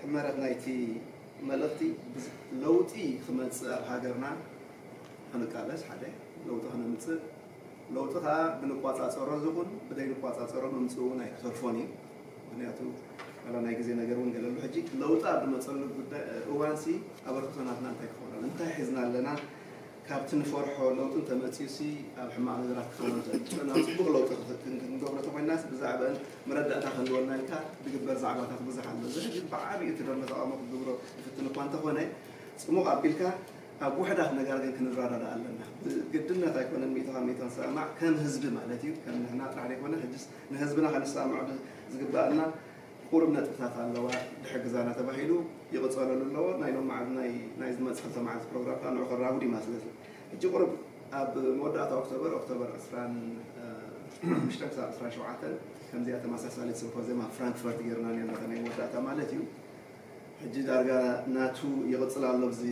ሕመረት ናይቲ መልእኽቲ ለውጢ ክመፅእ ኣብ ሃገርና ክንቃለስ ሓደ ለውጢ ክነምፅእ ለውጢ ከዓ ብንቋፃፀሮ ዝኹን ብደይንቋፃፀሮ ምምፅኡ እውን ኣይክተርፎን እዩ ምክንያቱ ዋላ ናይ ግዜ ነገር እውን ገለሉ ሕጂ ለውጢ ኣብ ዝመፀሉ ጉዳይ እዋንሲ ኣበርክቶ ናትና እንታይ ክኸውን ኣሎ እንታይ ሒዝና ኣለና ካብቲ ንፈርሖ ለውጢ እንተመጺኡሲ ኣብ ሕማቕ ነገራት ክኸውን ዝእትፍረ ናብ ጽቡቕ ለውጢ ክንገብሮ ተኾይናስ ብዛዕበን መረዳእታ ክህልወና ኢልካ ድግበር ዛዕባታት ብዙሕ ኣሎ። እዚ ሕጂ ብዓቢኡ እቲ ደንበ ተቓውሞ ክግብሮ ይፍትን እኳ እንተኾነ ጽሙቕ ኣቢልካ ኣብ ውሕዳት ነጋር ግን ክንረዳዳእ ኣለና። ብግድነት ኣይኮነን ሚእቲ ካብ ሚእቲ ክንሰማማዕ ከም ህዝቢ ማለት እዩ ከም ንሕና ጥራሕ ዘይኮነ ሕጅስ ንህዝብና ከነሰማምዕዶ ዝግበኣና ቁሩብ ነጥብታት ኣለዋ ድሕግዛና ተባሂሉ ይቕጸለሉ ኣለዎ ናይ ሎም መዓልት ናይ ናይ ዝመጽእ ክልተ መዓልት ፕሮግራም ከኣ ንዑ ክራቡ ዲማ ስለዚ ሕጂ ቁሩብ ኣብ መወዳእታ ኦክቶበር ኦክቶበር ዕስራን ሓሙሽተን ክሳብ ዕስራን ሸውዓተን ከምዚኣ ተመሳሳሊት ስምፖዝየም ኣብ ፍራንክፈርት ጌርና ኔርና እታ ናይ መወዳእታ ማለት እዩ ሕጂ ዳርጋ ናቱ ይቕጽል ኣሎ ኣብዚ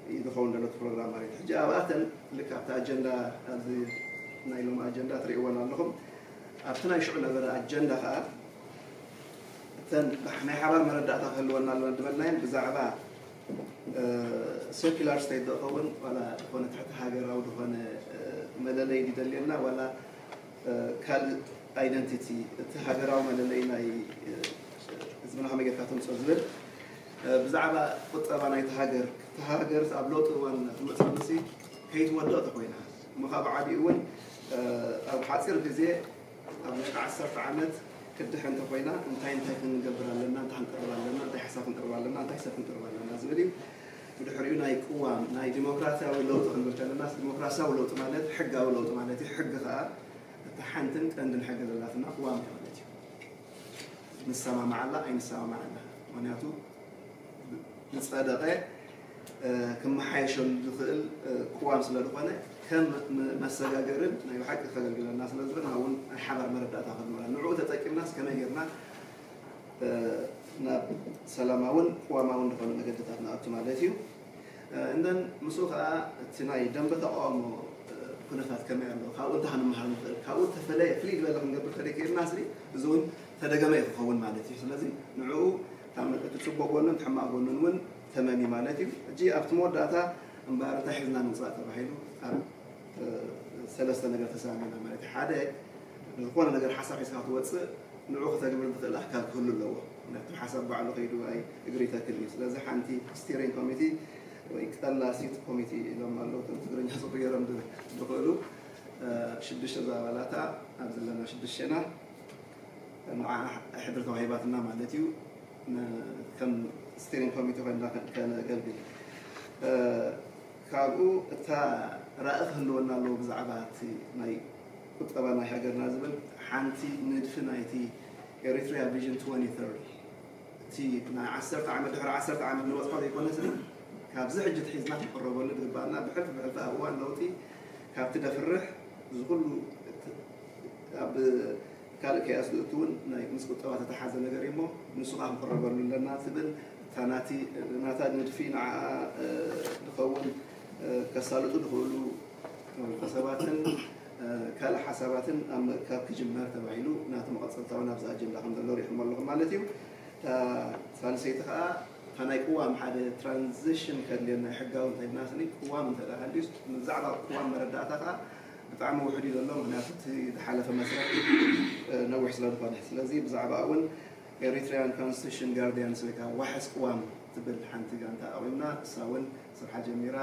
እዩ ዝኸውን ዘሎ እቲ ፕሮግራም ማለት እዩ ሕጂ ኣብኣተን ልክዕ ኣብቲ ኣጀንዳ ኣብዚ ናይ ሎም ኣጀንዳ ትርእይወን ኣለኹም ኣብቲ ናይ ሽዑ ነበረ ኣጀንዳ ከኣ እተን ናይ ሓባር መረዳእታ ክህልወና ኣለወን ዝበልናየን ብዛዕባ ሴኩላር ስቴት ዶ ኸውን ዋላ ዝኾነ ትሕቲ ሃገራዊ ዝኾነ መለለይ ድደልየና ዋላ ካልእ ኣይደንቲቲ እቲ ሃገራዊ መለለይ ናይ ህዝብና ከመይ ጌርካ ተምፅኦ ዝብል ብዛዕባ ቁጠባ ናይቲ ሃገር እቲ ሃገር ኣብ ለውጢ እዋን ትመፅእ ምሲ ከይትወድቕ ተኮይና እሞ ኸኣ ብዓቢኡ እውን ኣብ ሓጺር ግዜ ኣብ ውሽጢ ዓሰርተ ዓመት ክትድሕን እንተኾይና እንታይ እንታይ ክንገብር ኣለና፣ እንታይ ክንቅርብ ኣለና፣ እንታይ ሓሳብ ክንቅርብ ኣለና፣ እንታይ ሰብ ክንቅርብ ኣለና ዝብል እዩ። ብድሕሪኡ ናይ ቅዋም ናይ ዲሞክራሲያዊ ለውጢ ክንብል ከለናስ ዲሞክራሲያዊ ለውጢ ማለት ሕጋዊ ለውጢ ማለት እዩ። ሕጊ ኸኣ እታ ሓንትን ቀንድን ሕጊ ዘላትና ቅዋም እያ ማለት እዩ። ንሰማማዓላ ኣይንሰማማዓላ ምክንያቱ ዝጸደቐ ክመሓየሸሉ ዝኽእል ቅዋም ስለዝኾነ ከም መሰጋገርን ናይ ብሓቂ ከገልግለና ስለዝኽእል ንዓ እውን ናይ ሓባር መረዳእታ ክንብላ ንዕኡ ተጠቂምናስ ከመይ ጌርና ናብ ሰላማውን ቅዋማውን ዝኾነ መገድታት ንኣቱ ማለት እዩ እንደን ምስኡ ከዓ እቲ ናይ ደንበ ተቃውሞ ኩነታት ከመይ ኣሎ ካብኡ እንታይ ክንመሃር ንኽእል ካብኡ ተፈለየ ፍልይ ዝበለ ክንገብር ተደኪልና ስሪ እዚ እውን ተደገመ እዩ ክኸውን ማለት እዩ ስለዚ ንዕኡ እቲ ፅቡቅ ጎኑን ሕማቅ ጎኑን እውን ተመን እዩ ማለት እዩ። ሕጂ ኣብቲ መወዳእታ እምበኣር እንታይ ሒዝና ንውጻእ ተባሂሉ ኣብ ሰለስተ ነገር ተሰማሚዕና ማለት እዩ። ሓደ ንዝኾነ ነገር ሓሳብ ሒዝካ ክትወጽእ ንዕኡ ክተግብር ዝኽእል ኣካል ክህሉ ኣለዎ። ምክንያቱ እቲ ሓሳብ ባዕሉ ከይዱ ኣይ እግሪ ይተክል እዩ። ስለዚ ሓንቲ ስቲሪንግ ኮሚቲ ወይ ቀላሲት ኮሚቲ ኢሎም ኣለዉ እቶም ትግርኛ ጽቡቕ ገይሮም ዝኽእሉ ሽዱሽተ ዝኣባላታ ኣብ ዘለና ሽዱሽተና ንዓ ሕድሪ ተዋሂባትና ማለት እዩ። ከም ስቲሪንግ ኮሚቴ ኮይንና ከነገልግል ካብኡ እታ ራእይ ክህልወና ኣለዎ ብዛዕባ እቲ ናይ ቁጠባ ናይ ሃገርና ዝብል ሓንቲ ንድፊ ናይቲ ኤሪትሪያ ቪዥን 2030 እቲ ናይ ዓሰርተ ዓመት ድሕሪ ዓሰርተ ዓመት ንበፅሖ ዘይኮነስ ካብዚ ሕጂ ትሒዝና ክቀረበሉ ዝግባኣና ብሕልፊ ብሕልፊ ኣብ እዋን ለውጢ ካብቲ ደፍርሕ ዝኩሉ ኣብ ካልእ ከይኣስድኡቲ እውን ናይ ምስ ቁጠባ ተተሓዘ ነገር እዩሞ ንሱ ከኣ ክንቕረበሉ ኣለና ትብል እታ ናቲ ናታ ንድፊ ንዓኣ ድኸውን ከሳልጡ ድኽእሉ ውልቀ ሰባትን ካልእ ሓሳባትን ኣብ ምእካብ ክጅመር ተባሂሉ ናቲ መቐጸልታ እውን ኣብዚ ኣጀንዳ ከም ዘሎ ሪእኹሞ ኣለኹም ማለት እዩ እታ ሳልሰይቲ ከኣ እታ ናይ ቅዋም ሓደ ትራንዚሽን ከድልየና ሕጋዊ እንተይልና ስኒ ቅዋም እንተደኣ ሃልዩስ ብዛዕባ ቅዋም መረዳእታ ከኣ ብጣዕሚ ውሑድ እዩ ዘሎ ምክንያቱ እቲ ዝሓለፈ መስርሕ ነዊሕ ስለ ዝኮነ ስለዚ ብዛዕባኣ ውን ኤሪትሪያን ኮንስቲቱሽን ጋርድያንስ ወይ ከኣ ዋሕስ ቅዋም ትብል ሓንቲ ጋንታ ኣቚምና እሳ ውን ስርሓ ጀሚራ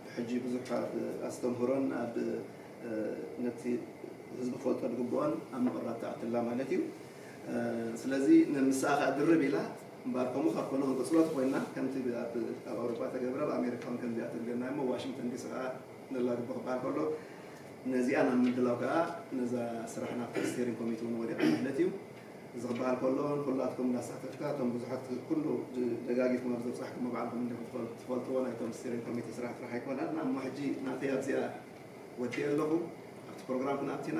ብሕጂ ብዙሕ ኣብ ኣስተምህሮን ኣብ ነቲ ህዝቢ ክፈልጦ ዝግብኦን ኣብ ምቕራብ ትኣቲ ኣላ ማለት እዩ ስለዚ ምስኣ ከኣ ድርብ ኢላ እምበኣር ከምኡ ካብ ኮነ ክንቅጽሎ ተኮይንና ከምቲ ኣብ ኣውሮጳ ተገብረ ኣብ ኣሜሪካ ውን ከምዚኣ ተድልዮና እሞ ዋሽንግተን ዲሲ ከኣ ዘላ ርቢ ክበሃል ከሎ ነዚኣ ናብ ምድላው ከኣ ነዛ ስራሕ ናብቲ ስቴሪንግ ኮሚቲ እውን ወዲቓ ማለት እዩ። እዚ ክበሃል ከሎ ንኹላትኩም እንዳሳተፍካ እቶም ብዙሓት ኩሉ ደጋጊፍኩም ኣብ ዘብጻሕኩሞ ባዕልኩም እንዲኹም ትፈል- ትፈልጥዎ ናይቶም ስቴሪንግ ኮሚቲ ስራሕ ጥራሕ ኣይኮነን። እሞ ሕጂ ናተይ ኣብዚኣ ወዲኤ ኣለኹ። ኣብቲ ፕሮግራም ክንኣቲና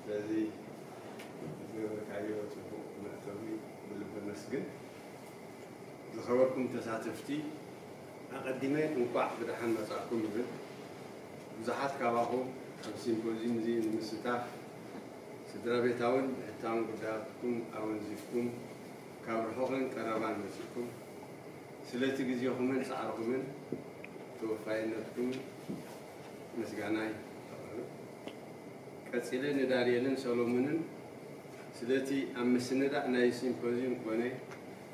ስለዚ ዝገበርካዮ ጽቡቕ መእተዊ ብልቢ ኣመስግን። ዝኸበርኩም ተሳተፍቲ ኣቐዲመ እንቋዕ ብደሓን መጻእኩም ይብል። ብዙሓት ካባኹም ኣብዚ ሲምፖዝዩም እዚ ንምስታፍ ስድራቤታውን ብሕታውን ጉዳያትኩም ኣወንዚፍኩም ካብ ርሑቕን ቀረባን መጺእኩም ስለቲ ግዜኹምን ጻዕርኹምን ተወፋይነትኩምን ምስጋናይ ኣቕርብ። ቀጺለ ንዳንኤልን ሰሎሙንን ስለቲ ኣብ ምስንዳእ ናይዚ ሲምፖዝዩም ኮነ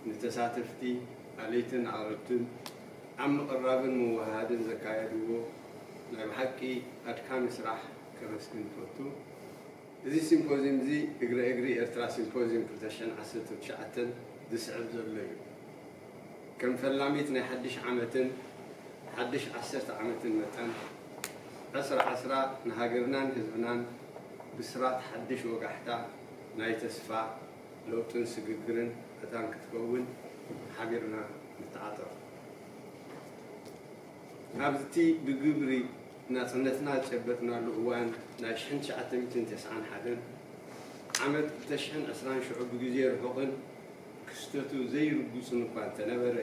ንተሳተፍቲ ኣለይትን ኣቕረብትን ኣብ ምቕራብን ምውህሃድን ዘካየድዎ ናይ ብሓቂ ኣድካሚ ስራሕ ከመስግን እፈቱ። እዚ ሲምፖዝዩምዚ እግረ እግሪ ኤርትራ ሲምፖዝዩም ክልተ ሽሕን ዓሰርተን ትሽዓተን ዝስዕብ ዘሎ እዩ። ከም ፈላሚት ናይ ሓድሽ ዓመትን ሓድሽ ዓሰርተ ዓመትን መጠን፣ ዕስራ ዕስራ ንሃገርናን ህዝብናን ብስራት ሓድሽ ወጋሕታ ናይ ተስፋ፣ ለውጥን ስግግርን መታን ክትከውን ሓቢርና ንተዓጠቕ። ኣብ'ቲ ብግብሪ ናጽነትና ዝጨበጥናሉ እዋን ናይ ሽሕን ትሽዓተ ሚእትን ተስዓን ሓደን ዓመት ብተሽሕን ዕስራን ሽዑ ብግዜ ርሑቕን፣ ክስተቱ ዘይርጉጽን እኳ እንተነበረ፣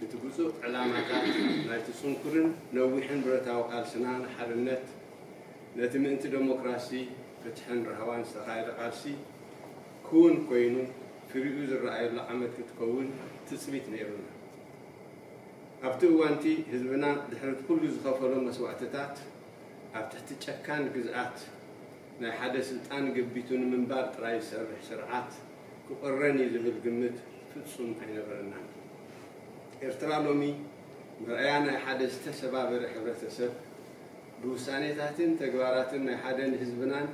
እቲ ብጹእ ዕላማታት ናይቲ ጽንኩርን ነዊሕን ብረታዊ ቃልስና ንሓርነት፣ ነቲ ምእንቲ ደሞክራሲ፣ ፍትሕን ራህዋን ዝተኻየደ ቃልሲ ክዉን ኮይኑ ፍሪኡ ዝረኣየሉ ዓመት ክትከውን ትጽቢት ነይሩና። ኣብቲ እዋንቲ ህዝብና ድሕሪቲ ኩሉ ዝኸፈሎ መስዋእትታት ኣብ ትሕቲ ጨካን ግዝኣት ናይ ሓደ ስልጣን ገቢቱ ንምንባር ጥራይ ዝሰርሕ ስርዓት፣ ክቕረን እዩ ዝብል ግምት ፍጹም ኣይነበረናን። ኤርትራ ሎሚ መርኣያ ናይ ሓደ ዝተሰባበረ ሕብረተሰብ፣ ብውሳኔታትን ተግባራትን ናይ ሓደ ንህዝብናን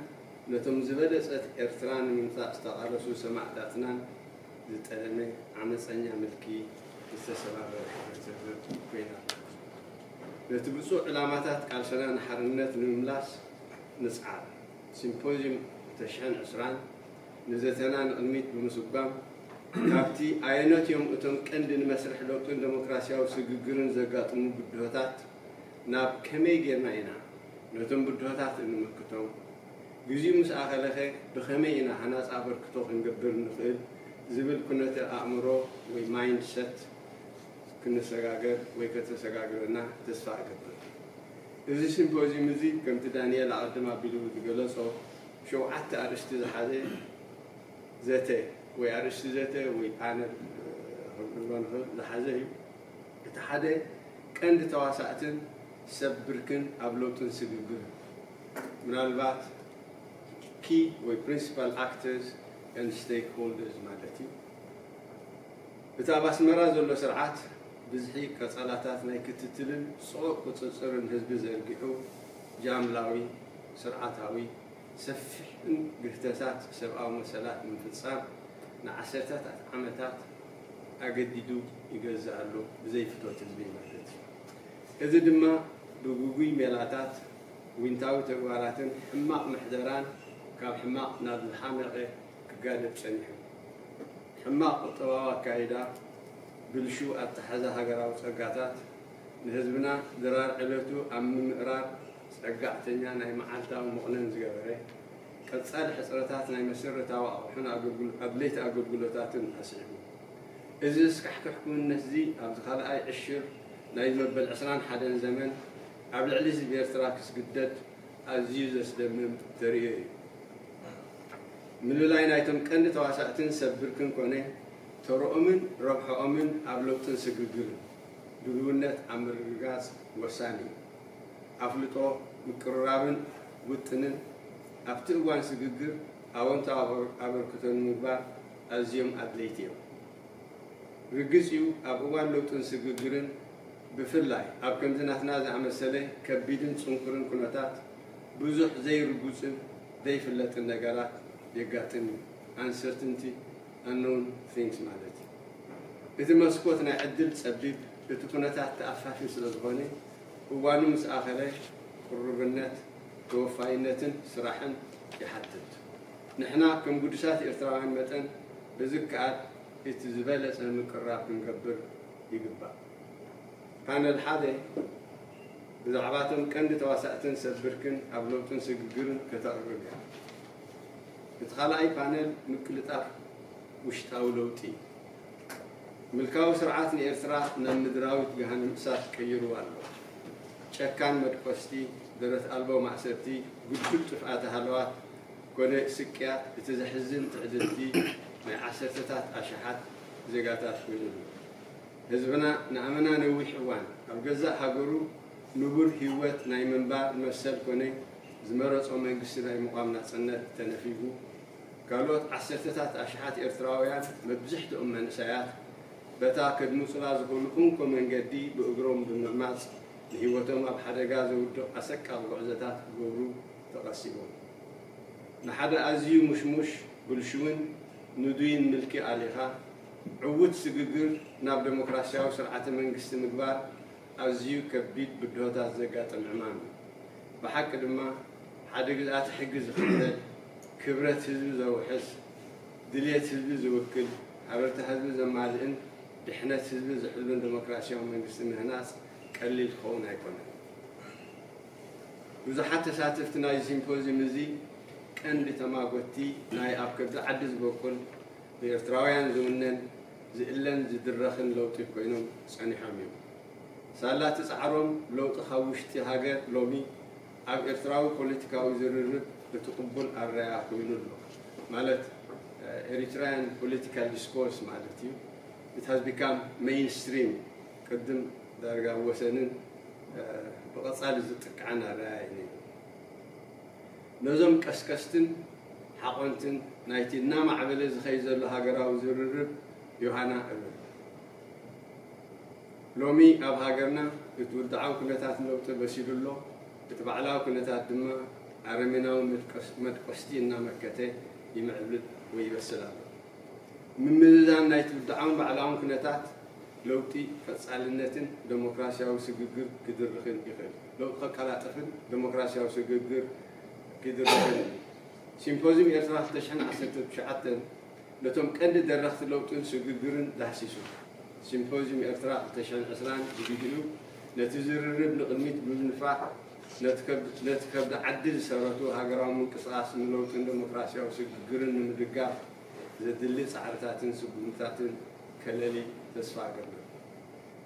ነቶም ዝበለጸት ኤርትራ ንምምጻእ ዝተቓለሱ ሰማእታትናን ዝጠለመ ዓመጸኛ ምልኪ ዝተሰባበረ ሕብረተሰብ ኮይና ኣላ። ነቲ ብጹእ ዕላማታት ቃልሰና ንሓርነት ንምምላስ ንጽዓር! ሲምፖዝዩም ተሽሕን ዕስራን። ንዘተና ንቕድሚት ብምስጓም፣ ካብቲ ኣየኖት እዮም እቶም ቀንዲ ንመስርሕ ለውጥን ደሞክራስያዊ ስግግርን ዘጋጥሙ ብድሆታት ናብ ከመይ ጌርና ኢና ነቶም ብድሆታት እንምክቶም፣ ግዚኡ ምስ ኣኸለኸ ብኸመይ ኢና ሃናጺ ኣበርክቶ ክንገብር እንኽእል ዝብል ኩነተ ኣእምሮ ወይ ማይንድ ሰት ክንሰጋገር ወይ ከተሰጋግረና ተስፋ እገብር። እዚ ሲምፖዝዩም እዚ ከምቲ ዳኒኤል ኣቐድም ኣቢሉ ዝገለጾ፣ ሸውዓተ ኣርእስቲ ዝሓዘ ዘተ ወይ ኣርእስቲ ዘተ ወይ ፓነል ክንብሎ ንኽእል ዝሓዘ እዩ። እቲ ሓደ ቀንዲ ተዋሳእትን ሰብ ብርክን ኣብ ለውጥን ስግግርን፣ ምናልባት Key ወይ Principal Actors and Stakeholders ማለት እዩ። እቲ ኣብ ኣስመራ ዘሎ ስርዓት ብዝሒ ቀጸላታት ናይ ክትትልን ጽዑቕ ቁጽጽርን ህዝቢ ዘርጊሑ፣ ጃምላዊ፣ ስርዓታዊ፣ ሰፊሕን ግህተታት ሰብኣዊ መሰላት ንምፍጻም ንዓሰርተታት ዓመታት ኣገዲዱ ይገዝእ ኣሎ፣ ብዘይ ፍቶት ህዝቢ ማለት እዩ። እዚ ድማ ብግጉይ ሜላታት፣ ዊንታዊ ተግባራትን ሕማቕ ምሕደራን ካብ ሕማቕ ናብ ዝሓመቐ ክጋደድ ጸኒሑ። ሕማቕ ቁጠባዊ ኣካይዳ፣ ብልሹው ኣተሓሕዛ ሃገራዊ ጸጋታት፣ ንህዝብና ድራር ዕለቱ ኣብ ምምእራር ጸጋዕተኛ ናይ መዓልታዊ መቑነን ዝገበረ፣ ቀጻሊ ሕጽረታት ናይ መሰረታዊ ኣቑሑን ኣድለይቲ ኣገልግሎታትን ኣስዒቡ። እዚ ዘስካሕክሕ ክውንነት'ዚ ኣብዚ ካልኣይ ዕሽር ናይዚ መበል ዕስራን ሓደን ዘመን ኣብ ልዕሊ ህዝቢ ኤርትራ ክስግደድ ኣዝዩ ዘስደምም ተርእዮ እዩ። ምልላይ ናይቶም ቀንዲ ተዋሳእትን ሰብ ብርክን ኮነ ተርኦምን ረብሐኦምን ኣብ ለውጥን ስግግርን፣ ድሉውነት ኣብ ምርግጋፅ ወሳኒ እዩ። ኣፍልጦ፣ ምቅርራብን ውጥንን ኣብቲ እዋን ስግግር ኣወንታዊ ኣበርክቶ ንምግባር ኣዝዮም ኣድለይቲ እዮም። ርግፅ እዩ ኣብ እዋን ለውጥን ስግግርን ብፍላይ ኣብ ከምዚ ናትና ዝኣመሰለ ከቢድን ፅንኩርን ኩነታት ብዙሕ ዘይርጉፅን ዘይፍለጥን ነገራት የጋጥም እዩ። ኣንሰርትንቲ። unknown things ማለት እዩ። እቲ መስኮት ናይ ዕድል ጸቢብ፣ እቲ ኩነታት ተኣፋፊ ስለዝኾነ እዋኑ ምስ ኣኸለ ቅሩብነት፣ ተወፋይነትን ስራሕን ይሓትት። ንሕና ከም ግዱሳት ኤርትራውያን መጠን ብዝከኣል እቲ ዝበለጸ ምቅርራብ ክንገብር ይግባእ። ፓነል ሓደ ብዛዕባ'ቶም ቀንዲ ተዋሳእትን ሰብ ብርክን ኣብ ለውጥን ስግግርን ከተቕርብ እያ። እቲ ካልኣይ ፓነል ምቅልጣፍ ውሽጣዊ ለውጢ እዩ። ምልካዊ ስርዓት ንኤርትራ ናብ ምድራዊት ገሃነም እሳት ቀይሩዋ ኣሎ። ጨካን መድቆስቲ፣ ደረት ኣልቦ ማእሰርቲ፣ ግዱድ ጥፍኣተ ሃለዋት ኮነ ስቅያት እቲ ዘሕዝን ትዕድልቲ ናይ ዓሰርተታት ኣሽሓት ዜጋታት ኮይኑ ኣሎ። ህዝብና ንኣመና ነዊሕ እዋን ኣብ ገዛእ ሃገሩ፣ ንቡር ህይወት ናይ ምንባር መሰል ኮነ ዝመረጾ መንግስቲ ናይ ምቛም ናጽነት ተነፊጉ። ካልኦት ዓሰርተታት ኣሽሓት ኤርትራውያን፣ መብዝሕትኦም መንእሰያት፣ በታ ከድምጹላ ዝኽእሉ እንኮ መንገዲ ብእግሮም ብምዕማጽ ንህይወቶም ኣብ ሓደጋ ዘውድቕ ኣሰቃቒ ጉዕዞታት ክገብሩ ተቐሲቦም። ንሓደ ኣዝዩ ሙሽሙሽ፣ ብልሹውን ንዱይን ምልኪ ኣሊኻ፣ ዕዉት ስግግር ናብ ደሞክራስያዊ ስርዓተ መንግስቲ ምግባር፣ ኣዝዩ ከቢድ ብድሆታት ዘጋጥም ዕማም እዩ። ብሓቂ ድማ ሓደ ግዝኣተ ሕጊ ዝኽተል፣ ክብረት ህዝቢ ዘውሕስ፣ ድልየት ህዝቢ ዝውክል፣ ሃበርታ ህዝቢ ዘማልእን ድሕነት ህዝቢ ዝሕሉን ደሞክራሲያዊ መንግስቲ ምህናጽ ቀሊል ክኸውን ኣይኮነን። ብዙሓት ተሳተፍቲ ናይዚ ሲምፖዝዩም እዚ ቀንዲ ተማጎትቲ ናይ ኣብ ከብዲ ዓዲ ዝበቁል ብኤርትራውያን ዝውነን፣ ዝእለን ዝድረኽን ለውጢ ኮይኖም ጸኒሖም እዮም። ሳላ እቲ ጻዕሮም ለውጢ ካብ ውሽጢ ሃገር ሎሚ ኣብ ኤርትራዊ ፖለቲካዊ ዝርርብ እቲ ቅቡል ኣረኣእያ ኮይኑ ኣሎ። ማለት Eritrean political discourse ማለት እዩ። It has become mainstream ቅድም ዳርጋ ወሰንን ብቐጻሊ ዝጥቅዓን ኣረኣእያ እዩ ነይሩ። ነዞም ቀስቀስትን ሓቖንትን ናይቲ እናማዕበለ ዝኸይድ ዘሎ ሃገራዊ ዝርርብ ዮሃና እብል። ሎሚ ኣብ ሃገርና እቲ ውድዓዊ ኩነታት ለውጢ በሲሉ ኣሎ፣ እቲ ባዕላዊ ኩነታት ድማ ኣረሜናዊ መድቆስቲ እናመከተ ይምዕብል ወይ ይበስል ኣሎ። ምምዝዛን ናይቲ ውድዓውን ባዕላውን ኩነታት ለውጢ ቀጻልነትን ደሞክራሲያዊ ስግግር ክድርኽን ይኽእል። ንክቐላጠፍን ደሞክራሲያዊ ስግግር ክድረኸን እዩ። ሲምፖዝዩም ኤርትራ ክልተ ሽሕን ዓሰርተን ትሽዓተን ነቶም ቀንዲ ደረኽቲ ለውጥን ስግግርን ዳህሲሱ። ሲምፖዝዩም ኤርትራ ክልተ ሽሕን ዕስራን ብግዲኡ ነቲ ዝርርብ ንቕድሚት ብምንፋዕ ነቲ ከብዲ ዓዲ ዝሰረቱ ሃገራዊ ምንቅስቓስ ንለውጥን ደሞክራሲያዊ ስግግርን ንምድጋፍ ዘድሊ ጻዕርታትን ስጉምትታትን ከለሊ ተስፋ እገብር።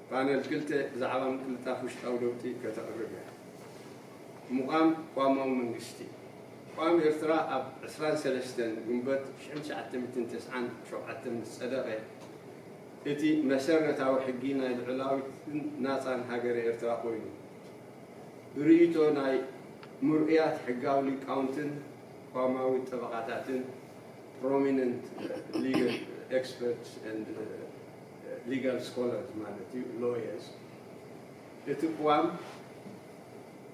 ፓነል ክልተ ብዛዕባ ምቅልጣፍ ውሽጣዊ ለውጢ ከተቕርብ እያ። ምቛም ቋማዊ መንግስቲ። ቋም ኤርትራ ኣብ ዕስራን ሰለስተን ግንቦት ሽሕን ትሽዓተ ሚእትን ተስዓን ሸውዓተን ምስ ጸደቐ፣ እቲ መሰረታዊ ሕጊ ናይ ልዑላዊትን ናጻን ሃገረ ኤርትራ ኮይኑ፣ ብርእይቶ ናይ ምርኡያት ሕጋዊ ሊቃውንትን ቋማዊ ጠበቓታትን፣ Prominent Legal Experts and Legal Scholars ማለት እዩ፣ Lawyers፣ እቲ ቅዋም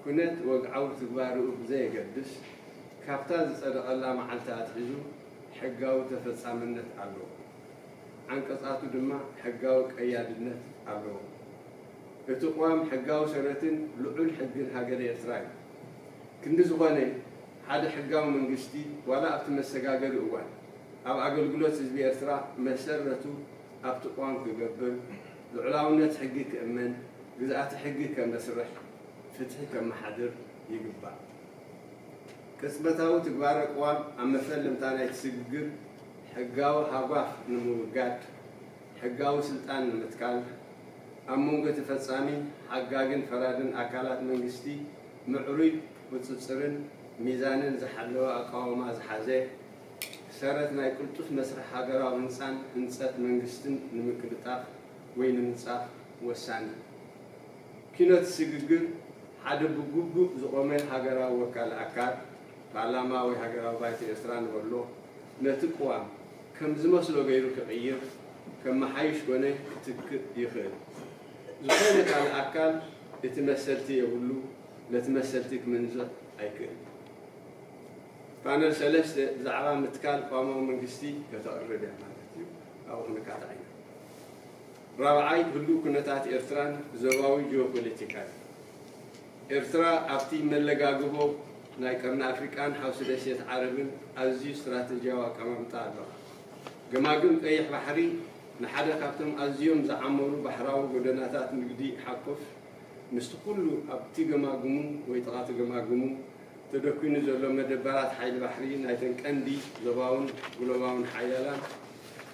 ኩነት ወግዓዊ ትግባረኡ ብዘየገድስ ካብታ ዝጸደቐላ መዓልቲ ኣትሒዙ ሕጋዊ ተፈጻምነት ኣለዎ። ዓንቀጻቱ ድማ ሕጋዊ ቀያድነት ኣለዎም። እቲ ቅዋም ሕጋዊ ሰረትን ልዑል ሕግን ሃገረ ኤርትራ እዩ። ክንዲ ዝኾነ ሓደ ሕጋዊ መንግስቲ ዋላ ኣብቲ መሰጋገሪ እዋን ኣብ ኣገልግሎት ህዝቢ ኤርትራ መሰረቱ ኣብቲ ቅዋም ክገብር፣ ልዑላውነት ሕጊ ክእመን፣ ግዝኣተ ሕጊ ከመስርሕ፣ ፍትሒ ከመሓድር ይግባእ። ቅጽበታዊ ትግባረ ቅዋም ኣብ መፈለምታ ናይቲ ስግግር ሕጋዊ ሃጓፍ ንምውጋድ፣ ሕጋዊ ስልጣን ንምትካል፣ ኣብ መንጎ ተፈጻሚ፣ ሓጋግን ፈራድን ኣካላት መንግስቲ፣ ምዕሩይ ቁፅፅርን ሚዛንን ዝሓለወ ኣቃውማ ዝሓዘ ሰረት ናይ ቅልጡፍ መስርሕ ሃገራዊ ህንፃን ህንፀት መንግስትን ንምቅልጣፍ ወይ ንምንፃፍ ወሳኒ እዩ። ኲነት ስግግር ሓደ ብግቡእ ዝቖመ ሃገራዊ ወካሊ ኣካል፣ ፓርላማ ወይ ሃገራዊ ባይቶ ኤርትራ ንበሎ፣ ነቲ ቅዋም ከም ዝመስሎ ገይሩ ክቕይር፣ ከመሓይሽ ኮነ ክትክእ ይኽእል። ዝኾነ ካልእ ኣካል እቲ መሰልቲ የብሉ ነቲ መሰልቲ ክምንዝዕ ኣይክእልን። ፓነል ሰለስተ ብዛዕባ ምትካል ቅዋማዊ መንግስቲ ከተቕርብ እያ ማለት እዩ። ካብኡ ክንካታዕ ኢና። ራብዓይ ህሉው ኩነታት ኤርትራን ዞባዊ ጂኦፖለቲካን ኤርትራ ኣብቲ መለጋግቦ ናይ ቀርኒ ኣፍሪቃን ሓውሲ ደሴት ዓረብን ኣዝዩ ስትራተጂያዊ ኣቀማምጣ ኣለዋ። ገማግም ቀይሕ ባሕሪ ንሓደ ካብቶም ኣዝዮም ዝዓመሩ ባሕራዊ ጎደናታት ንግዲ ሓቁፍ፣ ምስቲ ኩሉ ኣብቲ ገማግሙ ወይ ጥቓ'ቲ ገማግሙ ተደኲኑ ዘሎ መደበራት ሓይሊ ባሕሪ ናይተን ቀንዲ ዞባውን ግሎባውን ሓያላን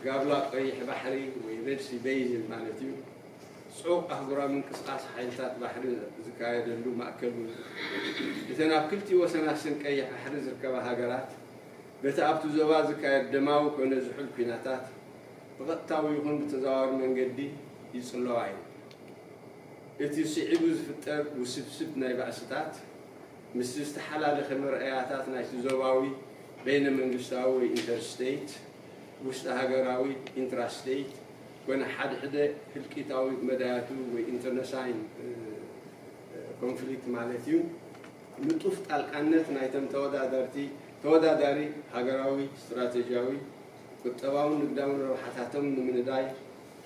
ጋብላ ቀይሕ ባሕሪ ወይ ሬድ ሲ በይዝን ማለት'ዩ ጽዑቕ ኣህጉራዊ ምንቅስቓስ ሓይልታት ባሕሪ ዝካየደሉ ማእከል'ውን እተን ኣብ ክልቲኡ ወሰናስን ቀይሕ ባሕሪ ዝርከባ ሃገራት በቲ ኣብቲ ዞባ ዝካየድ ደማዊ ኮነ ዝሑል ኲናታት ብቐጥታዊ ይኹን ብተዘዋዋሪ መንገዲ ይጽለዋ እየን። እቲ ስዒቡ ዝፍጠር ውስብስብ ናይ ባእስታት፣ ምስቲ ዝተሓላለኸ መርኣያታት ናይቲ ዞባዊ፣ በይነ-መንግስታዊ ወይ ኢንተርስቴይት፣ ውሽጠ ሃገራዊ፣ ኢንትራስቴይት፣ ኮነ ሓድሕደ ህልቂታዊ መዳያቱ ወይ ኢንተርነሳይን ኮንፍሊክት ማለት እዩ፣ ንጡፍ ጣልቃነት ናይተን ተወዳደርቲ ተወዳዳሪ ሃገራዊ ስትራተጂያዊ፣ ቁጠባውን ንግዳውን ረብሓታቶም ንምንዳይ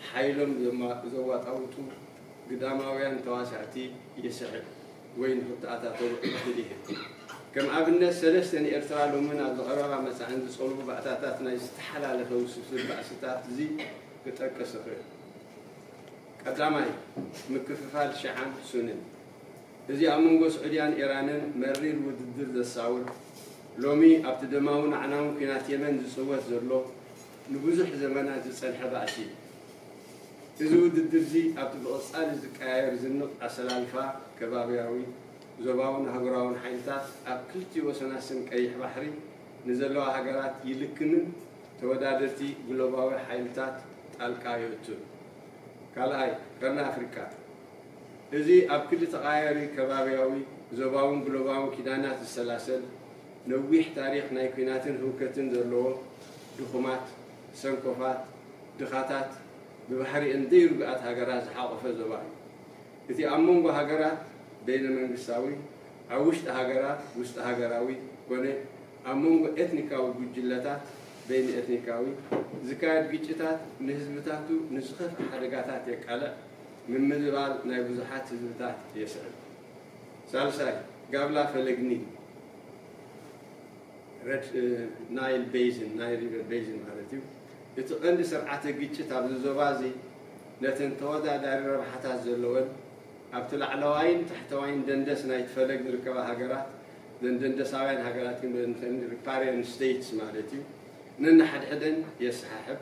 ሓይሎም ዘዋጣውጡ ግዳማውያን ተዋሳእቲ ይስሕብ ወይ ንኽተኣታተዉ ዕድል ይህብ። ከም ኣብነት ሰለስተ ንኤርትራ ሎምን ኣብ ዝቐረባ መጻእን ዝጸልዉ ባእታታት ናይ ዝተሓላለኸ ውስብስብ ባእስታት እዚ ክጠቅስ እኽእል። ቀዳማይ፣ ምክፍፋል ሽዓን ሱንን። እዚ ኣብ መንጎ ስዑድያን ኢራንን መሪር ውድድር ዘሳውር፣ ሎሚ ኣብቲ ደማውን ኣዕናውን ኲናት የመን ዝጽወት ዘሎ ንብዙሕ ዘመናት ዝጸንሐ ባእሲ እዩ። እዚ ውድድር'ዚ ኣብቲ ብቕጻሊ ዝቀያየር ዝንቕ ኣሰላልፋ ከባብያዊ፣ ዞባውን ኣህጉራውን ሓይልታት ኣብ ክልቲኡ ወሰናት ስም ቀይሕ ባሕሪ ንዘለዋ ሃገራት ይልክምን ተወዳደርቲ ግሎባዊ ሓይልታት ጣልቃ የእቱን። ካልኣይ ቀርኒ ኣፍሪቃ። እዚ ኣብ ክሊ ተቐያያሪ ከባብያዊ፣ ዞባውን ግሎባውን ኪዳናት ዝሰላሰል፣ ነዊሕ ታሪኽ ናይ ኲናትን ህውከትን ዘለዎ፣ ድኹማት፣ ሰንኮፋት፣ ድኻታት፣ ብባህሪኤን ዘይርጉኣት ሃገራት ዝሓቖፈ ዞባ እዩ። እቲ ኣብ መንጎ ሃገራት በይነ-መንግስታዊ፣ ኣብ ውሽጢ ሃገራት ውስጠ-ሃገራዊ ኮነ ኣብ መንጎ ኤትኒካዊ ጉጅለታት በይነ-ኤትኒካዊ፣ ዝካየድ ግጭታት ንህዝብታቱ ንዝኸፍኣ ሓደጋታት የቃልዕ። ምምልባል ናይ ብዙሓት ህዝብታት የስዕብ። ሳልሳይ፣ ጋብላ ፈለግ ኒል፣ Red Nile Basin፣ ናይል ሪቨር ቤዝን ማለት እዩ፣ እቲ ቀንዲ ስርዓተ ግጭት ኣብዚ ዞባ እዚ ነተን ተወዳዳሪ ረብሓታት ዘለወን ኣብቲ ላዕለዋይን ታሕተዋይን ደንደስ ናይቲ ፈለግ ዝርከባ ሃገራት፣ እዘን ደንደሳውያን ሃገራት ግን በዘን ሪፓሪያን ስቴትስ ማለት እዩ፣ ነንሓድሕደን የሰሓሕብ።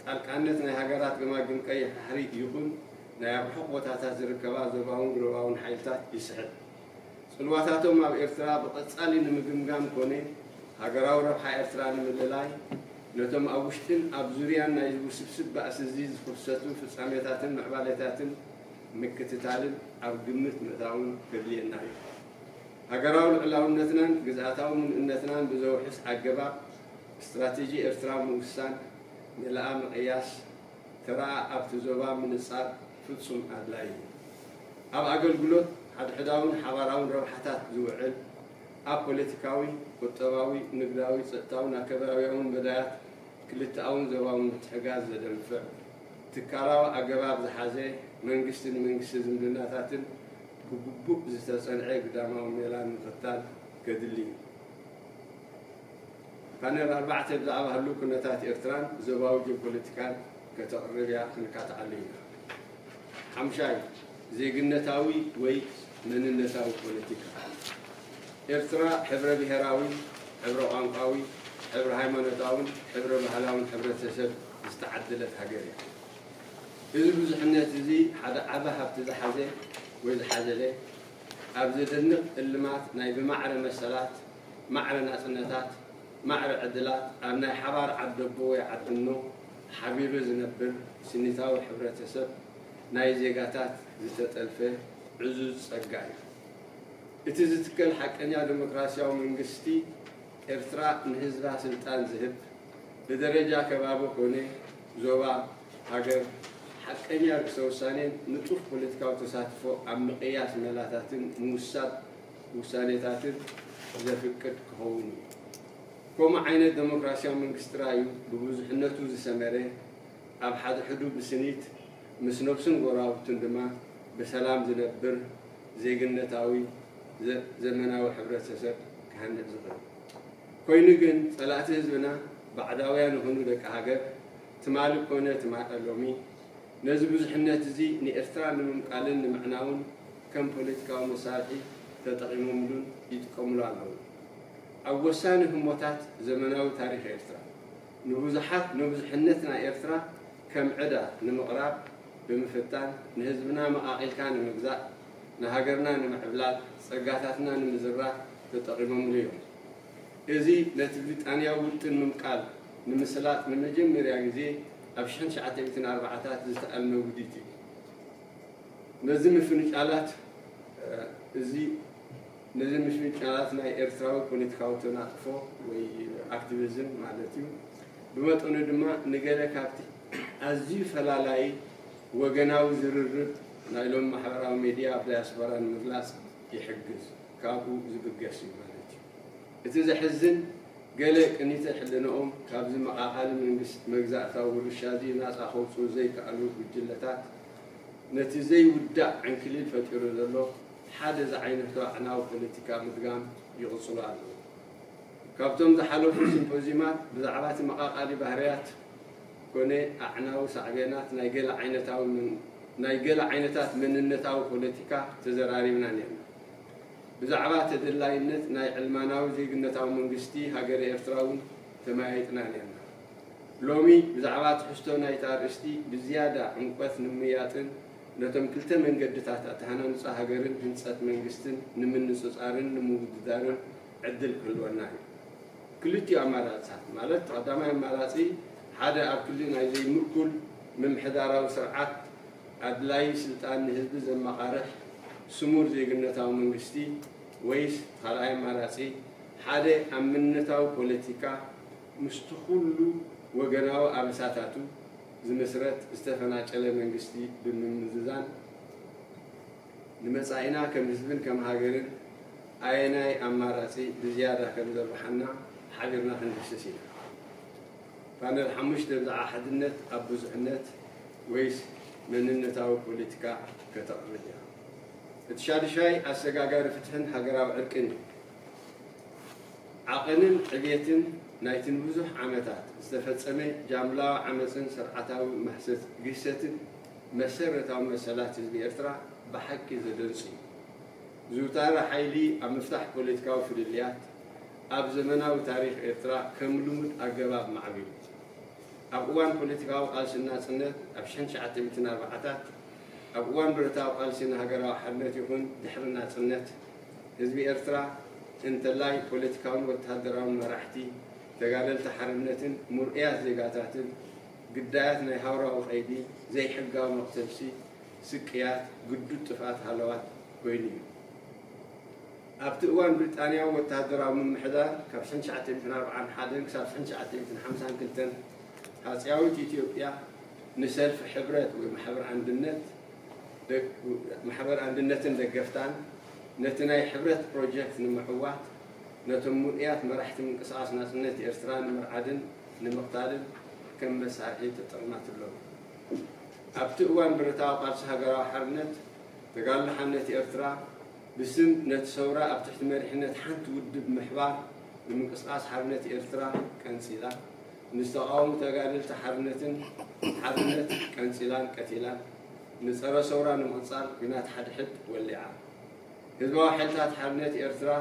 ጣልቃነት ናይ ሃገራት ገማግም ቀይሕ ባሕሪ ይኹን ናይ ኣብ ርሑቕ ቦታታት ዝርከባ ዞባውን ግሎባውን ሓይልታት ይስሕብ። ጽልዋታቶም ኣብ ኤርትራ ብቐጻሊ ንምግምጋም ኮነ ሃገራዊ ረብሓ ኤርትራ ንምልላይ፣ ነቶም ኣብ ውሽጥን ኣብ ዙርያን ናይዚ ውስብስብ ባእሲ'ዚ ዝኽሰቱ ፍጻሜታትን ምዕባሌታትን ምክትታልን ኣብ ግምት ምእታውን ከድልየና እዩ። ሃገራዊ ልዑላውነትናን ግዝኣታዊ ምሉእነትናን ብዘውሕስ ኣገባብ፣ ስትራቴጂ ኤርትራ ምውሳን፣ ንላኣ ምቕያስ፣ ተራ ኣብቲ ዞባ ምንጻር ፍጹም ኣድላዪ እዩ። ኣብ ኣገልግሎት ሓድሕዳውን ሓባራውን ረብሓታት ዝውዕል፣ ኣብ ፖለቲካዊ፣ ቁጠባዊ፣ ንግዳዊ፣ ጸጥታውን ኣከባብያውን መዳያት ክልተኣውን ዞባውን ምትሕጋዝ ዘደንፍዕ፣ ትካላዊ ኣገባብ ዝሓዘ መንግስቲ ንመንግስቲ ዝምድናታትን ብግቡእ ዝተጸንዐ ግዳማዊ ሜላን ምኽታል ከድሊ እዩ። ፓነል ኣርባዕተ ብዛዕባ ህሉው ኩነታት ኤርትራን ዞባዊ ጂኦፖለቲካን ከተቕርብ እያ ክንካትዓሉ ኢና። ሓምሻይ፣ ዜግነታዊ ወይ መንነታዊ ፖለቲካ። ኤርትራ ሕብረ ብሄራዊ፣ ሕብረ ቋንቋዊ፣ ሕብረ ሃይማኖታውን ሕብረ ባህላውን ሕብረተሰብ ዝተዓደለት ሃገር እያ። እዚ ብዙሕነት እዚ ሓደ ዓቢ ሃብቲ ዝሓዘ ወይ ዝሓዘለ ኣብ ዘደንቕ እልማት ናይ ብማዕረ መሰላት፣ ማዕረ ናጽነታት፣ ማዕረ ዕድላት ኣብ ናይ ሓባር ዓደቦ ወይ ዓድኖ ሓቢሩ ዝነብር ስኒታዊ ሕብረተሰብ ናይ ዜጋታት ዝተጠልፈ ዕዙዝ ጸጋ እዩ። እቲ ዝትከል ሓቀኛ ደሞክራሲያዊ መንግስቲ ኤርትራ ንህዝባ ስልጣን ዝህብ፣ ብደረጃ ከባቢ ኮነ ዞባ፣ ሃገር፣ ሓቀኛ ርእሰ-ውሳኔን ንጡፍ ፖለቲካዊ ተሳትፎ ኣብ ምቕያስ መላታትን ምውሳብ፣ ውሳኔታትት ዘፍቅድ ክኸውን እዩ። ከምኡ ዓይነት ደሞክራሲያዊ መንግስቲ ጥራይ እዩ ብብዙሕነቱ ዝሰመረ፣ ኣብ ሓድሕዱ ብስኒት ምስ ነብሱን ጎረባብቱን ድማ ብሰላም ዝነብር ዜግነታዊ ዘመናዊ ሕብረተሰብ ክሃንዕ ዝኽእል። ኮይኑ ግን ጸላእቲ ህዝብና ባዕዳውያን ይኹኑ ደቂ ሃገር ትማሊ ኮነ ሎሚ ነዚ ብዙሕነት'ዚ ንኤርትራ ንምምቃልን ንምዕናውን ከም ፖለቲካዊ መሳርሒ ተጠቒሞምሉን ይጥቀምሉ ኣለዉን። ኣብ ወሳኒ ህሞታት ዘመናዊ ታሪኽ ኤርትራ፣ ንብዙሓት ንብዙሕነት ናይ ኤርትራ ከም ዕዳ ንምቕራብ ብምፍታን፣ ንህዝብና መቓቒልካ ንምግዛእ፣ ንሃገርና ንምዕብላል፣ ጸጋታትና ንምዝራፍ ተጠቒሞምሉ እዮም። እዚ ነቲ ብሪጣንያዊ ውጥን ምምቃል ንምስላጥ ንመጀመርያ ግዜ ኣብ ሽሕን ትሽዓተ ሚእትን ኣርባዓታት ዝተኣልመ ውዲት እዩ። ነዚ ምፍንጫላት እዚ ነዚ ምፍንጫላት ናይ ኤርትራዊ ፖለቲካዊ ተናጥፎ ወይ ኣክቲቪዝም ማለት እዩ ብመጠኑ ድማ ንገለ ካብቲ ኣዝዩ ፈላላዪ ወገናዊ ዝርርብ ናይ ሎሚ ማሕበራዊ ሜድያ ኣብ ዳያስፖራ ንምግላጽ ይሕግዝ ካብኡ ዝብገስ እዩ ማለት እዩ። እቲ ዘሕዝን ገለ ቅኒተ ሕልናኦም ካብዚ መቓኻሊ መንግስት መግዛእታዊ ውርሻዚ ናጻ ከውጽኡ ዘይከኣሉ ጉጅለታት ነቲ ዘይውዳእ ዕንክሊል ፈጢሩ ዘሎ ሓደ ዝዓይነቱ ኣዕናዊ ፖለቲካ ምድጋም ይቕጽሉ ኣለዉ። ካብቶም ዝሓለፉ ሲምፖዝዩማት ብዛዕባ እቲ መቓቓሊ ባህርያት ኮነ ኣዕናዊ ሳዕቤናት ናይ ገለ ዓይነታዊ ናይ ገለ ዓይነታት መንነታዊ ፖለቲካ ተዘራሪብና ኔርና። ብዛዕባ ተደላይነት ናይ ዕልማናዊ ዜግነታዊ መንግስቲ ሃገረ ኤርትራ'ውን ተመያይጥና ኔርና። ሎሚ ብዛዕባ ትሕዝቶ ናይቲ ኣርእስቲ ብዝያዳ ዕምቆት ንምምይያጥን ነቶም ክልተ መንገድታት ኣተሃናንጻ ሃገርን ህንጸት መንግስትን ንምንጽጻርን ንምውድዳርን ዕድል ክህልወና እዩ። ክልቲኡ ኣማራጺታት ማለት እቲ ቀዳማይ ኣማራጺ ሓደ ኣብ ክሊ ናይ ዘይምእኩል ምምሕዳራዊ ስርዓት፣ ኣድላዪ ስልጣን ንህዝቢ ዘመቓርሕ ስሙር ዜግነታዊ መንግስቲ ወይስ ኻልኣይ ኣማራጺ ሓደ ኣብ መንነታዊ ፖለቲካ ምስቲ ኹሉ ወገናዊ ኣበሳታቱ ዝምስረት ዝተፈናጨለ መንግስቲ ብምምዝዛን ንመጻኢና ከም ህዝብን ከም ሃገርን ኣየናይ ኣማራጺ ብዝያዳ ከም ዘርብሓና ሓቢርና ክንድህስስ ኢና። ፓነል ሓሙሽተ ብዛዕባ ሓድነት ኣብ ብዙሕነት ወይስ መንነታዊ ፖለቲካ ከተቕርብ እያ? እቲ ሻዱሻይ ኣሰጋጋሪ ፍትሕን ሃገራዊ ዕርቅን እዩ። ዓቕንን ዕብየትን ናይቲ ንብዙሕ ዓመታት ዝተፈጸመ ጃምላዊ ዓመጽን ስርዓታዊ ማህሰት ግህሰትን መሰረታዊ መሰላት ህዝቢ ኤርትራ ብሓቂ ዘደንጹ እዩ። ዝውታረ ሓይሊ ኣብ ምፍታሕ ፖለቲካዊ ፍልልያት ኣብ ዘመናዊ ታሪኽ ኤርትራ ከም ልሙድ ኣገባብ ማዕቢሉ። ኣብ እዋን ፖለቲካዊ ቃልሲ ንናጽነት ኣብ ሽሕን ትሽዓተ ሚእትን ኣርባዓታት፣ ኣብ እዋን ብረታዊ ቃልሲ ንሃገራዊ ሓርነት ይኹን ድሕሪ ናጽነት፣ ህዝቢ ኤርትራ፣ እንተላይ ፖለቲካውን ወተሃደራውን መራሕቲ፣ ተጋደልቲ ሓርነትን ምርኡያት ዜጋታትን፣ ግዳያት ናይ ሃውራዊ ቀይዲ፣ ዘይሕጋዊ መቕተልሲ፣ ስቅያት፣ ግዱድ ጥፍኣት ሃለዋት ኮይኑ እዩ። ኣብቲ እዋን ብሪጣንያዊ ወተሃደራዊ ምምሕዳር ካብ ሽሕን ትሽዓተ ሚእትን ኣርባዓን ሓደን ክሳብ ሽሕን ትሽዓተ ሚእትን ሓምሳን ክልተን ሃጺያዊት ኢትዮጵያ ንሰልፊ ሕብረት ወይ ማሕበር ኣንድነት ማሕበር ኣንድነትን ደገፍታን ነቲ ናይ ሕብረት ፕሮጀክት ንምዕዋት ነቶም ምሉእያት መራሕቲ ምንቅስቓስ ናጽነት ኤርትራ ንምርዓድን ንምቕታልን ከም መሳርሒ ተጠቕማትሎም። ኣብቲ እዋን ብረታዊ ቃልሲ ሃገራዊ ሓርነት ተጋድሎ ሓነት ኤርትራ፣ ብስም ነቲ ሰውራ ኣብ ትሕቲ መሪሕነት ሓንቲ ውድብ ምሕባር ንምንቅስቓስ ሓርነት ኤርትራ፣ ቀንጺላ፣ ምስ ተቓወሙ ተጋደልቲ ሓርነትን ሓርነት ቀንጺላን ቀቲላን፣ ንጸረ ሰውራ ንምቕጻል ግናት ሓድሕድ ወሊዓ። ህዝባዊ ሓይልታት ሓርነት ኤርትራ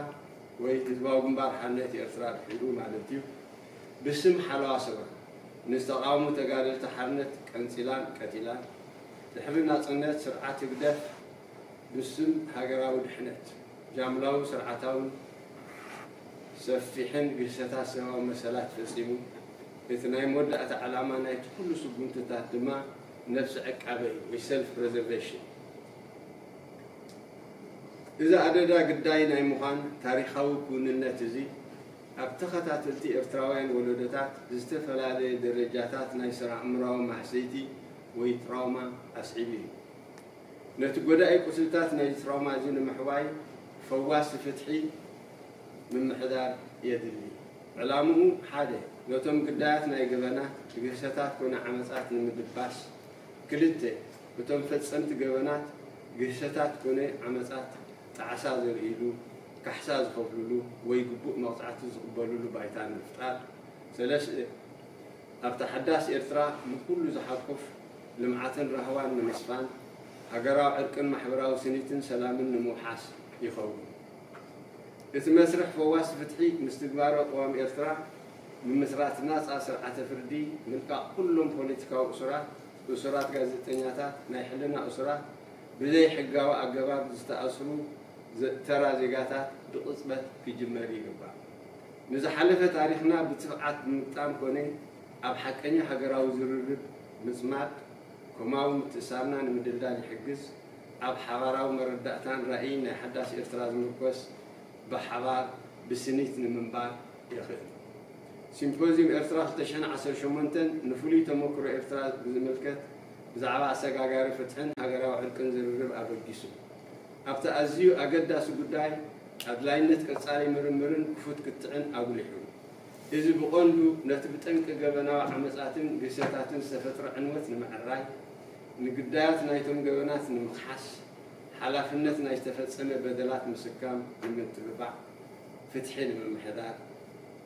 ወይ ህዝባዊ ግንባር ሓርነት ኤርትራ ድሒሩ ማለት'ዩ፣ ብስም ሓለዋ ሰውራ ምስ ተቓወሙ ተጋደልቲ ሓርነት ቀንጺላን ቀቲላን፣ ድሕሪ ናጽነት ስርዓት ህግደፍ፣ ብስም ሃገራዊ ድሕነት፣ ጃምላውን ስርዓታውን ሰፊሕን ግህሰታት ሰብኣዊ መሰላት ፈጺሙ፣ እቲ ናይ መወዳእታ ዕላማ ናይቲ ኩሉ ስጉምትታት ድማ ነብሰ ዕቃበ እዩ ወይ ሰልፍ ፕረዘርቬሽን። እዚ ኣደዳ ግዳይ ናይ ምዃን ታሪኻዊ ክውንነት እዚ፣ ኣብ ተኸታተልቲ ኤርትራውያን ወለዶታት ዝተፈላለየ ደረጃታት ናይ ስነ-ኣእምሮኣዊ ማህሰይቲ ወይ ትራውማ ኣስዒቡ እዩ። ነቲ ጎዳኢ ቁስልታት ናይዚ ትራውማ እዚ ንምሕዋይ ፈዋሲ ፍትሒ ምምሕዳር የድሊ። ዕላምኡ ሓደ፣ ነቶም ግዳያት ናይ ገበናት፣ ግህሰታት ኮነ ዓመጻት ንምድባስ፣ ክልተ፣ እቶም ፈጸምቲ ገበናት፣ ግህሰታት ኮነ ዓመጻት ጣዕሳ ዘርእይሉ፣ ካሕሳ ዝኸፍልሉ ወይ ግቡእ መቕጻዕቲ ዝቕበልሉ ባይታ ንምፍጣር፣ ሰለስተ፣ ኣብታ ሓዳስ ኤርትራ ንኹሉ ዝሓቁፍ ልምዓትን ራህዋን ንምስፋን፣ ሃገራዊ ዕርቅን ማሕበራዊ ስኒትን ሰላምን ንምውሓስ ይኸውን። እቲ መስርሕ ፈዋሲ ፍትሒ ምስ ትግባረ ቅዋም ኤርትራ፣ ምምስራት ናጻ ስርዓተ ፍርዲ፣ ምልቃቕ ኩሎም ፖለቲካዊ እሱራት፣ እሱራት ጋዜጠኛታት፣ ናይ ሕልና እሱራት፣ ብዘይሕጋዊ ኣገባብ ዝተኣስሩ ተራ ዜጋታት ብቕጽበት ክጅመር ይግባእ። ንዝሓለፈ ታሪኽና ብትብዓት ምግጣም ኮነ ኣብ ሓቀኛ ሃገራዊ ዝርርብ ምጽማድ፣ ኮማዊ ምትእስሳርና ንምድልዳል ይሕግዝ። ኣብ ሓባራዊ መረዳእታን ራኢን ናይ ሓዳስ ኤርትራ ዝምርኮስ ብሓባር ብስኒት ንምንባር የኽእል። ሲምፖዝዩም ኤርትራ ክልተ ሽሕን ዓሰርተ ሸሞንተን ንፍሉይ ተመኩሮ ኤርትራ ብዝምልከት ብዛዕባ ኣሰጋጋሪ ፍትሕን ሃገራዊ ዕርቅን ዝርርብ ኣበጊሱ። ኣብቲ ኣዝዩ ኣገዳሲ ጉዳይ ኣድላይነት ቀጻሊ ምርምርን ክፉት ክትዕን ኣጉሊሑ። እዚ ብቐንዱ ነቲ ብጠንቂ ገበናዊ ዓመጻትን ግህሰታትን ዝተፈጥረ ዕንወት ንምዕራይ፣ ንግዳያት ናይቶም ገበናት ንምኽሓስ፣ ሓላፍነት ናይ ዝተፈጸመ በደላት ምስካም ንምትብባዕ፣ ፍትሒ ንምምሕዳር፣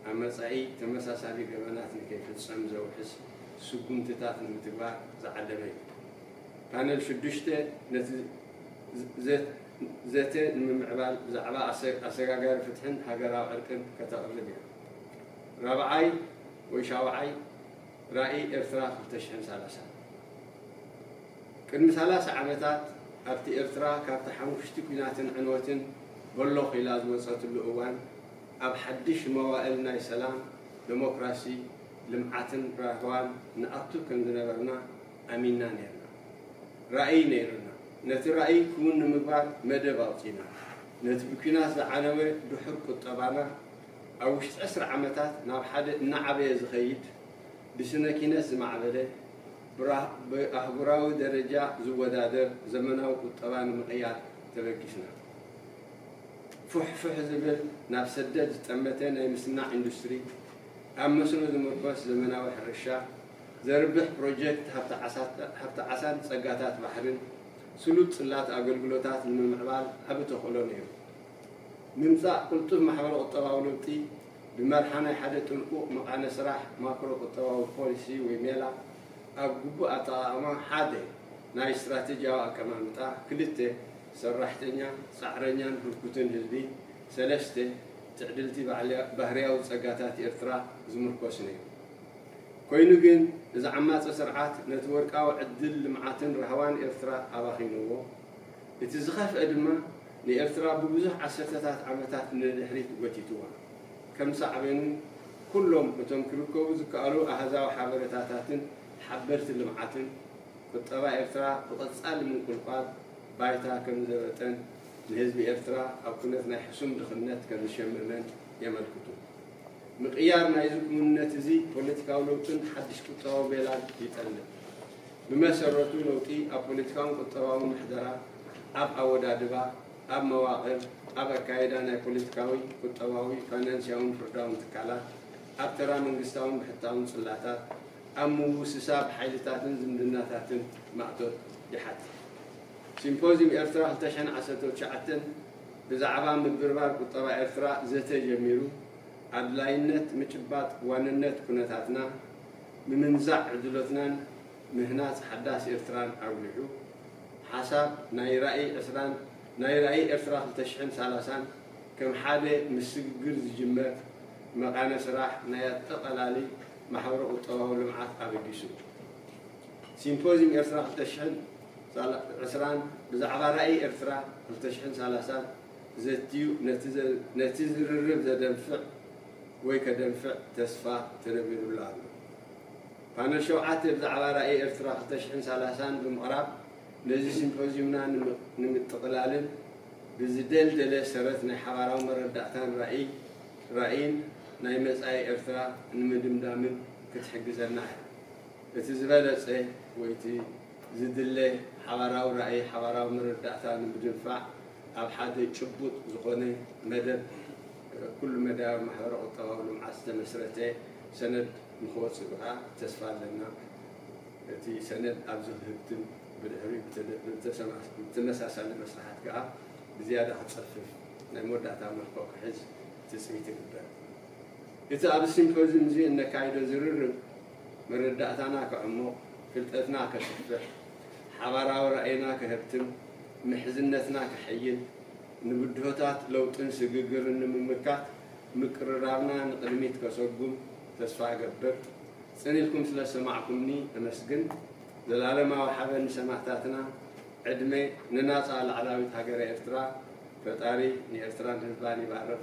ኣብ መጻኢ ተመሳሳሊ ገበናት ንከይፍጸም ዘውሕስ ስጉምትታት ንምትግባር ዝዓለመ እዩ። ፓነል ሽዱሽተ ነቲ ዘተ ንምምዕባል ብዛዕባ ኣሰጋጋሪ ፍትሕን ሃገራዊ ዕርቅን ከተቕርብ እያ። ራብዓይ ወይ ሻውዓይ ራእይ ኤርትራ ክልተ ሽሕን ሰላሳን ቅድሚ ሰላሳ ዓመታት ኣብቲ ኤርትራ ካብቲ ሓሙኽሽቲ ኲናትን ዕንወትን በሎኽ ኢላ ዝወጸትሉ እዋን ኣብ ሓድሽ መዋእል ናይ ሰላም፣ ደሞክራሲ፣ ልምዓትን ራህዋን ንኣቱ ከም ዝነበርና ኣሚንና ኔርና። ራእይ ነይሩና። ነቲ ራእይ ክውን ንምግባር መደብ ኣውጺእና። ነቲ ብኲናት ዝዓነወ ድሑር ቁጠባና፣ ኣብ ውሽጢ ዕስራ ዓመታት ናብ ሓደ እናዓበየ ዝኸይድ፣ ብስነ ኪነት ዝማዕበለ፣ ብኣህጉራዊ ደረጃ ዝወዳደር ዘመናዊ ቁጠባ ንምቕያር ተበጊስና። ፉሕ ፉሕ ዝብል ናብ ሰደት ዝጠመተ ናይ ምስናዕ ኢንዱስትሪ፣ ኣብ መስኖ ዝምርኮስ ዘመናዊ ሕርሻ፣ ዘርብሕ ፕሮጀክት ሃብቲ ዓሳን ፀጋታት ባሕሪን ስሉጥ ፅላት ኣገልግሎታት ንምምዕባል ዓቢ ተኽእሎ ነይሩ። ምምፃእ ቅልጡፍ ማሕበረ-ቁጠባዊ ለውጢ ብመርሓ ናይ ሓደ ጥንቁቕ መቃነ ስራሕ ማክሮ ቁጠባዊ ፖሊሲ ወይ ሜላ ኣብ ግቡእ ኣጠቓቕማ ሓደ ናይ ስትራቴጂያዊ ኣቀማምጣ ክልተ ሰራሕተኛ፣ ፃዕረኛን ህርኩትን ህዝቢ ሰለስተ ትዕድልቲ ባህሪያዊ ፀጋታት ኤርትራ ዝምርኮስ ነይሩ። ኮይኑ ግን እዚ ዓማጺ ስርዓት ነቲ ወርቃዊ ዕድል ልምዓትን ራህዋን ኤርትራ ኣባኺንዎ። እቲ ዝኸፍኤ ድማ ንኤርትራ ብብዙሕ ዓሰርተታት ዓመታት ንድሕሪት ጎቲትዋ። ከም ሳዕቤኑ ኩሎም እቶም ክርከቡ ዝከኣሉ ኣሃዛዊ ሓበረታታትን ሓበርቲ ልምዓትን፣ ቁጠባ ኤርትራ ብቐጻሊ ምንቁልቋል ባይታ ከም ዘበጠን ንህዝቢ ኤርትራ ኣብ ኩነት ናይ ሕሱም ድኽነት ከም ዝሸመመን የመልክቱ። ምቕያር ናይዚ ክውንነት እዚ ፖለቲካዊ ለውጥን ሓድሽ ቁጠባዊ ሜላን ይጠልብ። ብመሰረቱ ለውጢ ኣብ ፖለቲካውን ቁጠባውን ምሕደራ፣ ኣብ ኣወዳድባ፣ ኣብ መዋቕር፣ ኣብ ኣካይዳ ናይ ፖለቲካዊ፣ ቁጠባዊ፣ ፋይናንስያውን ፍርዳውን ትካላት፣ ኣብ ተራ መንግስታውን ብሕታውን ጽላታት፣ ኣብ ምውስሳብ ሓይልታትን ዝምድናታትን ማእቶት ይሓትት። ሲምፖዝዩም ኤርትራ ክልተ ሽሕን ዓሰርተው ትሽዓተን፣ ብዛዕባ ምብርባር ቁጠባ ኤርትራ ዘተ ጀሚሩ፣ ኣድላይነት ምጭባጥ ዋንነት ኩነታትና፣ ምምንዛዕ ዕድሎትናን ምህናጽ ሓዳስ ኤርትራን ኣጉሊሑ፣ ሓሳብ ናይ ራኢ ዕስራን ናይ ራኢ ኤርትራ ክልተ ሽሕን ሰላሳን ከም ሓደ ምስ ስግግር ዝጅመር መቓነ ስራሕ ናይ ኣጠቓላሊ ማሕበረ-ቁጠባዊ ልምዓት ኣበጊሱ። ሲምፖዝዩም ኤርትራ ክልተ ሽሕን ሳላ ዕስራን ብዛዕባ ራኢ ኤርትራ ክልተ ሽሕን ሳላሳን ዘትዩ ነቲ ዝርርብ ዘደንፍዕ ወይ ከደንፍዕ ተስፋ ተነቢሩሉ ኣሎ። ፓነል ሸውዓተ ብዛዕባ ራኢ ኤርትራ ክልተ ሽሕን ሳላሳን ብምቕራብ ነዚ ሲምፖዝዩምና ንምጥቕላልን ብዝደልደለ ሰረት ናይ ሓባራዊ መረዳእታን ራኢን ናይ መጻኢ ኤርትራ ንምድምዳምን ክትሕግዘና እያ እቲ ዝበለጸ ወይ እቲ ዝድለ ሓባራዊ ራእይ ሓባራዊ መረዳእታ ንምድንፋዕ ኣብ ሓደ ጭቡጥ ዝኾነ መደብ ኩሉ መዳያዊ ማሕበረ ቁጠባዊ ልምዓት ዝተመስረተ ሰነድ ንክወፅእ ከዓ ተስፋ ኣለና። እቲ ሰነድ ኣብዚ ክህብትም ብድሕሪኡ ብተመሳሳሊ መስርሓት ከዓ ብዝያዳ ክፀፍፍ ናይ መወዳእታ መልክዑ ክሕዝ ትፅቢት ይግበር። እቲ ኣብዚ ሲምፖዝዩም እዚ እነካይዶ ዝርርብ፣ መረዳእታና ከዕሙቕ፣ ፍልጠትና ከስፍሕ፣ ሓባራዊ ራእይና ከሀብትም፣ ምሕዝነትና ከሐይል፣ ንብድሆታት ለውጥን ስግግርን ንምምካት ምቅርራብና ንቕድሚት ከሰጉም ተስፋ እገብር። ጽኒትኩም ስለ ዝሰማዕኩምኒ እመስግን። ዘላለማዊ ሓበን ንሰማእታትና፣ ዕድመ ንናጻ ላዕላዊት ሃገረ ኤርትራ፣ ፈጣሪ ንኤርትራን ህዝባን ይባርኽ።